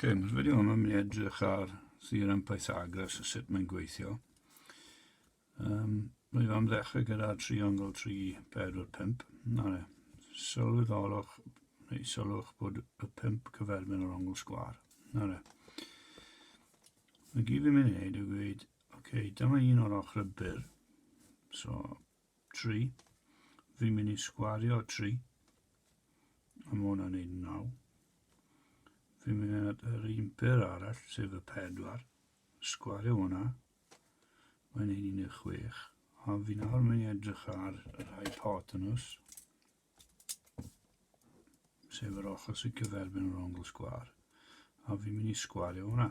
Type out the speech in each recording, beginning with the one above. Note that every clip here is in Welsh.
Cyn, wedi hwn yn mynd edrych ar Sir yn Pythagoras a sut mae'n gweithio. Um, Rwy'n fam ddechrau gyda triongl 3, 4, 5. Na le, sylweddolwch, neu sylwch bod y 5 cyferbyn o'r ongl sgwar. Na le. Mae gyd fi'n mynd i wneud yw gweud, oce, okay, dyma un o'r ochr y byr. So, 3. Fi'n mynd i sgwario 3. A mae hwnna'n neud 9. Fi'n mynd at yr un byr arall, sef y 4. Sgwario hwnna. Mae'n neud 16. A fi nawr mynd i edrych ar yr hypotenus, sef yr ochr sy'n cyferbyn yr ongl sgwar. A fi'n mynd i sgwario hwnna.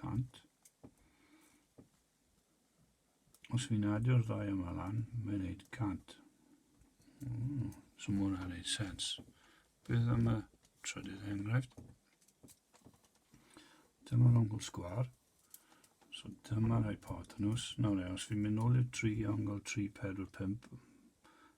100. Os fi'n adio'r ddau yma lan, mae'n neud 100. Mm, so mae hwnna'n neud sens. Beth am y trydydd enghraifft? Dyma'r ongl sgwar. So dyma'r hypotenws. Nawr e, os fi'n mynd nôl i'r tri ongl 3, 4, 5,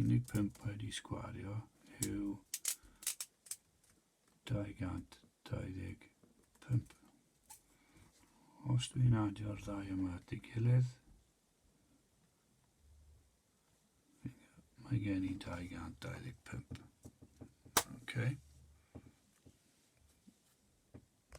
unig pump wedi sgwario yw 225. Os dwi'n adio'r ddau yma at ei gilydd, mae gen i 225. Okay.